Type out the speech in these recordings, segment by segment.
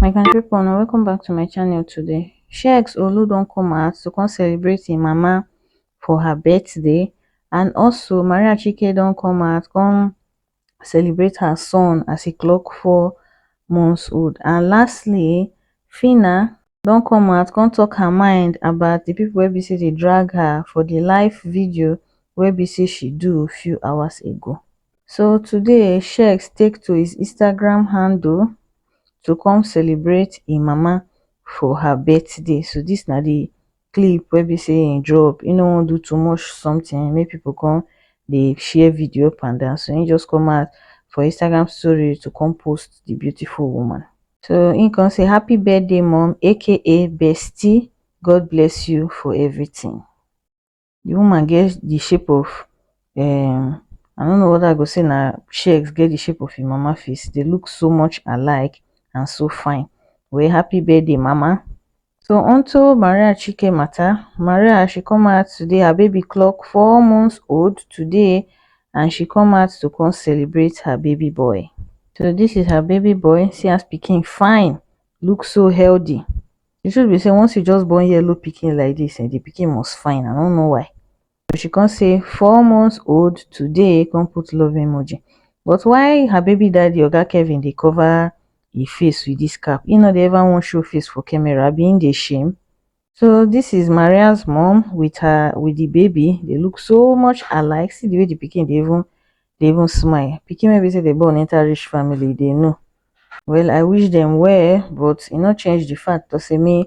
my country people now welcome back to my channel today shex olu don't come out to come celebrate im mama for her birthday and also maria chike don't come out come celebrate her son as he clock four months old and lastly fina don come out come talk her mind about the people wey be say dey drag her for the live video wey be say she do few hours ago so today sheik take to his Instagram handle to come celebrate him mama for her birthday so this na the clip wey be say him drop him no wan do too much something make people come dey share video up and down so him just come out for Instagram story to come post the beautiful woman so him come say happy birthday mum aka bestie God bless you for everything the woman get the shape of um I no know whether I go say na shex get the shape of him mama face they look so much alike and so fine well happy birthday mama. so onto maria chike matter maria she come out today her baby clock four months old today and she come out to come celebrate her baby boy so this is her baby boy see as pikin fine look so healthy the truth be say once you just born yellow pikin like this eh the pikin must fine i don't know why so she come say four months old today come put love emoji but why her baby daddy oga kevin dey cover e face with this cap he no dey ever wan show face for camera abi he dey shame so this is maria's mom with her with the baby they look so much alike see the way the pikin dey even dey even smile pikin wey be say they born enter rich family they know Well I wish dem well but e no change the fact to say me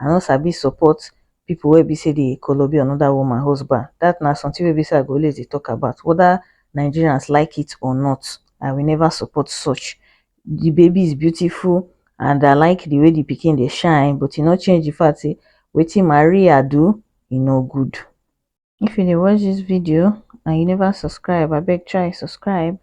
I no sabi support people wey be say dey kolobi another woman husband that na something wey be say I go always dey talk about whether Nigerians like it or not I will never support such the baby is beautiful and I like the way the pikin dey shine but e no change the fact say wetin Maria do e no good. If you dey watch this video and you never subscribe abeg try subscribe.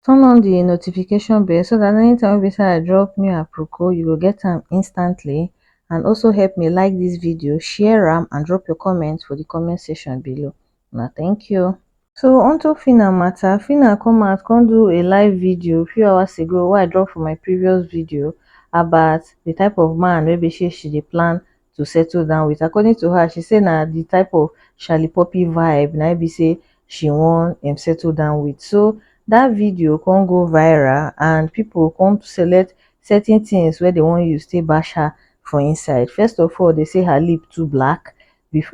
turn on the notification bell so that anytime wey be say i drop new aproko you go get am instantly and also help me like this video share am and drop your comment for the comment section below Now, thank you so onto Phyna matter Phyna come out come do a live video few hours ago wey i drop for my previous video about the type of man wey be say she dey plan to settle down with according to her she say na the type of shali poppy vibe na be say she wan um settle down with so that video come go viral and people come select certain things wey they wan use take bash her for inside first of all they say her lip too black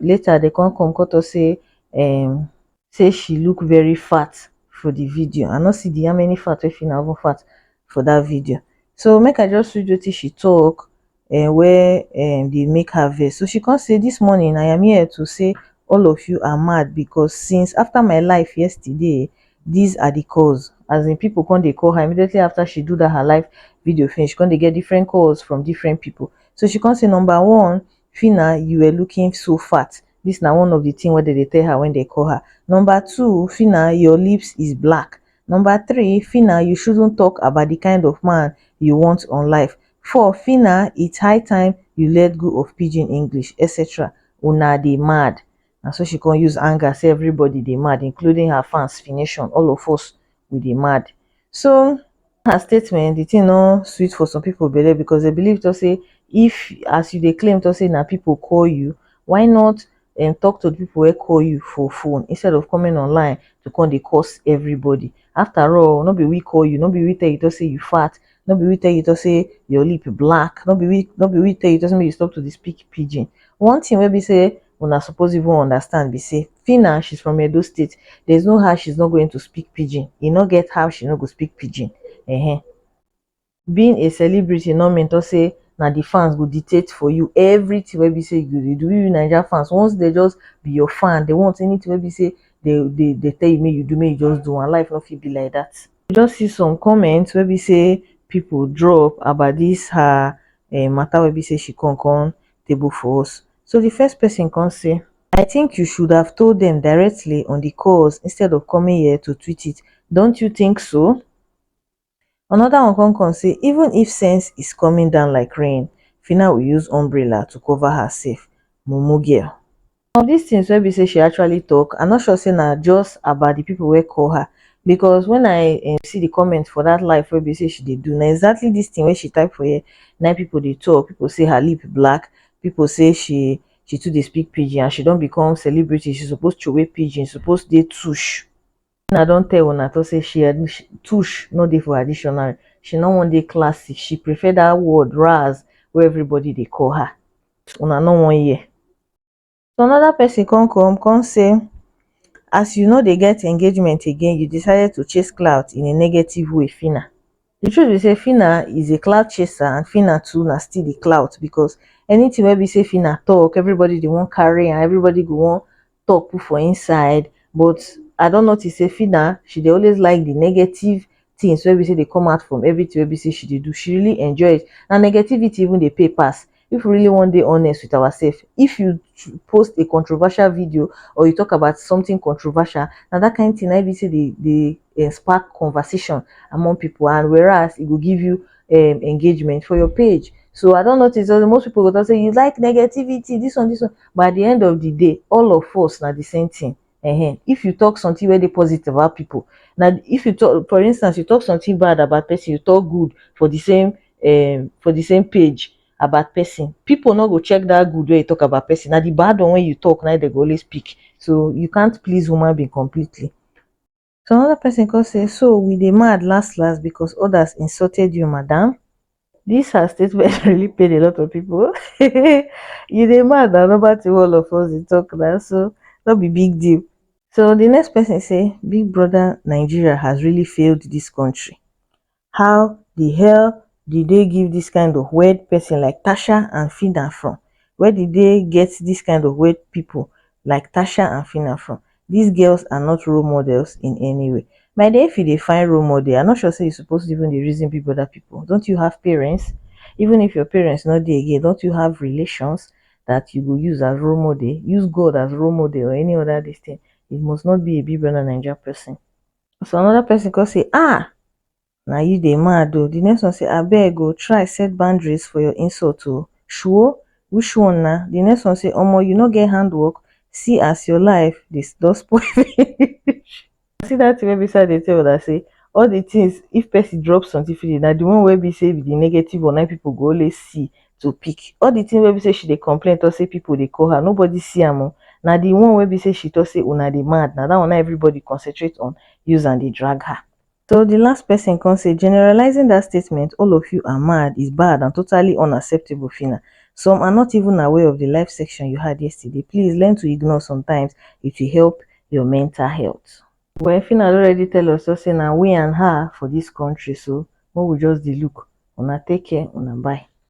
later they come come come talk say um say she look very fat for the video i no see the how many fat wey Phyna even fat for that video so make i just read wetin she talk eh, wey eh, dey make her vex so she come say this morning i am here to say all of you are mad because since after my life yesterday these are the calls as in people come dey call her immediately after she do that her live video finish she come dey get different calls from different people so she come say number one Phyna you were looking so fat this na one of the thing wey dem dey tell her when they call her number two Phyna your lips is black number three Phyna you shouldn't talk about the kind of man you want on life four Phyna it's high time you let go of pidgin English etc una dey mad na so she come use anger say everybody dey mad including her fans fination all of us we dey mad so her statement the thing no sweet for some people belle because they believe to say if as you dey claim to say na people call you why not um, talk to the people wey call you for phone instead of coming online to come dey curse everybody after all no be we call you no be we tell you to say you fat no be we tell you to say your lip black no be we no be we tell you to say make you stop to dey speak pidgin one thing wey be say una suppose even understand be say Fina she's from Edo state there's no how she's not going to speak pidgin e no get how she no go speak pidgin uh-huh. being a celebrity no mean to say na the fans go dictate for you everything wey be say you dey do you Naija fans once they just be your fan they want anything wey be say they they they tell you make you do make you just do and life no fit be like that. You just see some comments wey be say people drop about this her uh, matter wey be say she come come table for us. So di first pesin kon sey, I tink yu shud hav told dem directly on di koz instead of komin here to twit it, dont yu tink so? Anoda one kon kom sey, Ivun if sens is komin down like rain, fina wi yuz ombrela to kova her sef, mumu girl. Of dis tins wey be sey she actually tok, I no sure sey na just about di pipu wey call her because wen I um see di comment for dat live wey be sey she dey do, na exactly dis tin wey she type for here na im pipu dey tok. Pipu say her lip black, pipu say she she too dey speak pidgin and she don become celebrity, she suppose throway pidgin, she suppose dey tush. Wetin I don tell una talk sey she um tush no dey for her dictionary, she no wan dey classy, she prefer dat word razz wey everybody dey call her. Una no wan hear. so another person come come come say as you no dey get engagement again you decided to chase clout in a negative way Phyna the truth be say Phyna is a clout chaser and Phyna too na still the clout because anything wey be say Phyna talk everybody dey wan carry am everybody go wan talk put for inside but I don notice say Phyna she dey always like the negative things wey be say dey come out from everything wey be say she dey do she really enjoy it na negativity even dey pay pass if we really wan dey honest with ourselves if you tr- post a controversial video or you talk about something controversial na that kind thing na im be say dey dey eh, spark conversation among people and whereas e go give you um, engagement for your page so i don notice that most people go talk say you like negativity this one this one but at the end of the day all of us na the same thing Ehen, if you talk something wey dey positive about people, na if you talk for instance you talk something bad about person you talk good for the same um for the same page about person, people no go check that good wey you talk about person na the bad one wey you talk na im dem go always pick so you can't please human being completely. So another person come say, so we dey mad last last because others insulted you, madam. This her statement really paid a lot of people. you dey mad na number two all of us dey talk na so no be big deal. So the next person say, big brother Nigeria has really failed this country. how the hell the dey give this kind of weird person like Tasha and Fina from? Where the dey get this kind of weird people like Tasha and Fina from? These girls are not role models in any way. My dear, if you dey find role model, I'm not sure say you suppose even dey reason big brother people. Don't you have parents? Even if your parents not there again, don't you have relations that you go use as role model? Use God as role model or any other this thing. It must not be a big brother Naija person. So another person go say, ah, now you dey mad though. The next one say, I beg go oh, try set boundaries for your insult to oh. Sure, which one now? The next one say, Omo, you no get handwork. See as your life this does spoil. see that thing beside the table that say all the things if person drops something for you now the one where be say the negative or nine people go always see to pick all the thing wey be say she dey complain talk say people dey call her nobody see am o na the one wey be say she talk say una dey mad na that one na everybody concentrate on use and dey drag her so the last person come say generalizing that statement all of you are mad is bad and totally unacceptable phyna some are not even aware of the live section you had yesterday please learn to ignore sometimes it will help your mental health well phyna don already tell us so say na we and her for this country so make we just dey look una take care una bye.